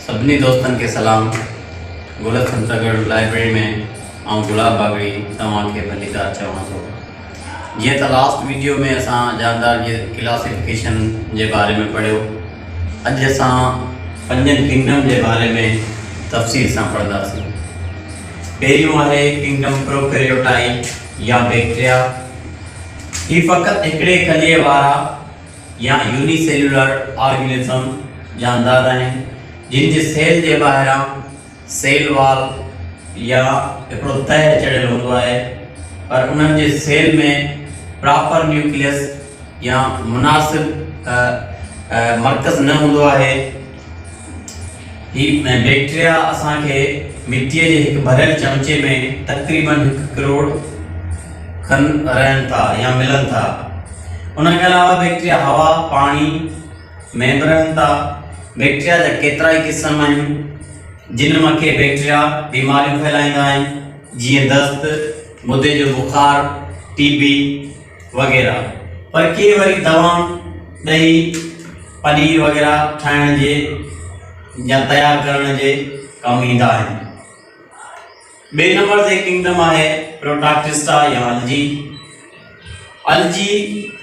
سڀني دوستن کي سلام گل سنساگڙھ لائبريري ۾ آئون گلاب باگڙي توهان کي ڀليڪار چوان ٿو جيئن ته لاسٽ ويڊيو ۾ اسان جاندار جي ڪلاسيفڪيشن جي باري ۾ پڙهيو اڄ اسان پنجن ڪنگڊم جي باري ۾ تفصيل سان پڙهنداسين پهريون آهي ڪنگڊم پروڪيريوٽائي يا بيڪٽريا هي فقط هڪڙي ڪليء وارا يا يوني سيلولر آرگنزم جاندار آهن جن جي سيل جي ٻاهران سيل وال يا هڪڙو تهه چڙهيل هوندو آهي پر انهن جي سيل ۾ پراپر نيوڪليس يا مناسب مرڪز نه هوندو آهي. هي بيڪٽيريا اسان کي مٽيء جي هڪ ڀريل چمچي ۾ تقريباً هڪ ڪروڙ کن رهن ٿا يا ملن ٿا. ان کان علاوه بيڪٽيريا هوا، پاڻي ۾ به رهن ٿا. بيڪٽيريا جا ڪيترائي قسم آهن، جن مان ڪي بيڪٽيريا بيماريون ڦهلائيندا آهن، جيئن دست، مدي جو بخار، ٽي بي وغيره پر ڪي وري دوائن ڏئي پنير وغيره ٺاهڻ جي يا تيار ڪرڻ جي ڪم ايندا آهن. ٻئي نمبر تي ڪنگڊم آهي پروٽاڪٽسٽا يا الجي. الجي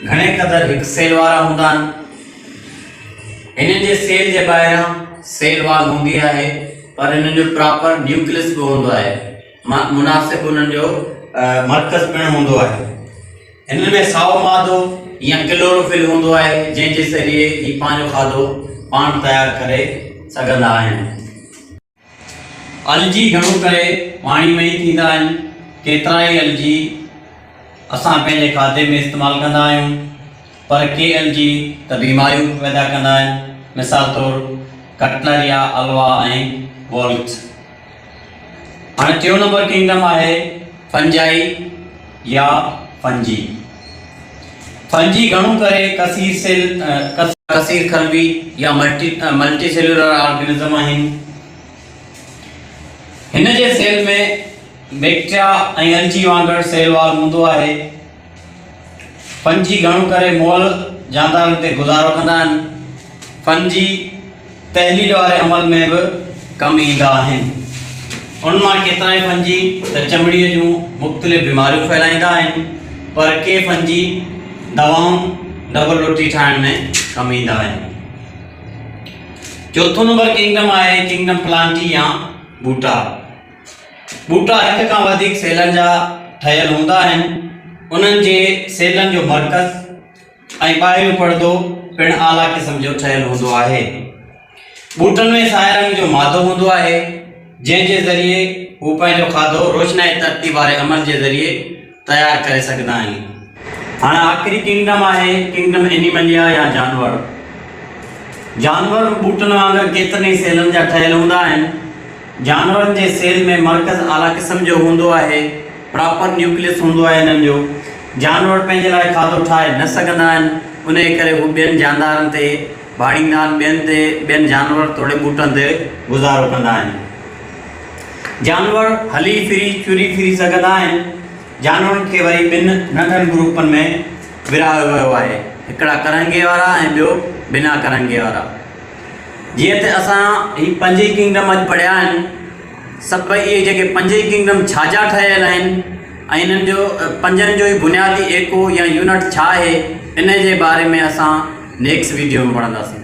گهڻي قدر هڪ سيل وارا هوندا آهن. هنن جي سيل جي ٻاهران سيل وال هوندي آهي پر هنن جو پراپر نيوڪليس به هوندو آهي. مناسب هنن جو مرڪز پڻ هوندو آهي. هنن ۾ سائو مادو يا ڪلوروفل هوندو آهي، جنهن جي ذريعي هي پنهنجو کاڌو پاڻ تيار ڪري سگهندا آهن. الجي گهڻو ڪري پاڻي ۾ ئي ٿيندا آهن. ڪيترائي الجي اسان پنهنجي کاڌي ۾ استعمال ڪندا آهيون، پر ڪي الجي ته بيماريون به پيدا ڪندا آهن. مثال طور ڪٽلريا الوا ۽ والڪس هاڻي ٽيون نمبر ڪنگڊم آهي فنجائي يا فنجي. فنجي گهڻو ڪري ڪثير سيل، ڪثير خلوي يا ملٽي سيلولر آرگنزم آهن. هن جي سيل ۾ بيڪٽريا ۽ الجي وانگر سيل وال هوندو آهي. فنجي گهڻو ڪري مئل جاندارن تي گذارو ڪندا آهن. فنجي تحليل واري عمل ۾ به ڪم ايندا آهن. انهن مان ڪيترائي فنجي ته چمڙي جون مختلف بيماريون ڦهلائيندا آهن پر ڪي فنجي دوائن، ڊبل روٽي ٺاهڻ ۾ ڪم ايندا آهن. چوٿون نمبر ڪنگڊم آهي ڪنگڊم پلانٽي يا ٻوٽا. ٻوٽا هڪ کان وڌيڪ سيلن جا ٺهيل هوندا آهن. انهن جي سيلن جو مرڪز ۽ ٻاهريون پڙدو پڻ اعليٰ قسم جو ٺهيل هوندو آهي. ٻوٽن ۾ سائي رنگ جو مادو هوندو آهي، جنهن جي ذريعي هو پنهنجو کاڌو روشنائي ترتيب واري عمل جي ذريعي تيار ڪري سگهندا آهيون. هاڻ آخري ڪنگڊم آهي ڪنگڊم اينيمليا يا جانور. جانور به ٻوٽن وانگر ڪيترن ئي سيلن جا ٺهيل هوندا آهن. جانورن جي سيل ۾ مرڪز اعليٰ قسم جو هوندو آهي، پراپر نيوڪليس هوندو آهي انهن جو. جانور پنهنجي لاء کاڌو ٺاهي نه سگهندا آهن انهيء ڪري هو ٻين جاندارن تي ڀاڙيندا آهن، ٻين تي، ٻين جانورن توڙي ٻوٽن تي گذارو ڪندا آهن. جانور هلي ڦري چري ڦري سگهندا آهن. جانورن کي وري ٻن ننڍن گروپن ۾ ورهايو ويو آهي، هڪڙا ڪرنگهي وارا ۽ ٻيو بنا ڪرنگهي وارا. جيئن ته اسان هي پنج ئي ڪنگڊم اڄ پڙهيا آهن، سڀئي اهي جيڪي پنج ئي ڪنگڊم ڇا جا ٺهيل آهن ۽ انهن جو پنجن جو ئي بنيادي ايڪو يا يونٽ ڇا آهي، انهيء جي باري ۾ اسان نيڪس ويڊيو ۾ پڙهنداسين.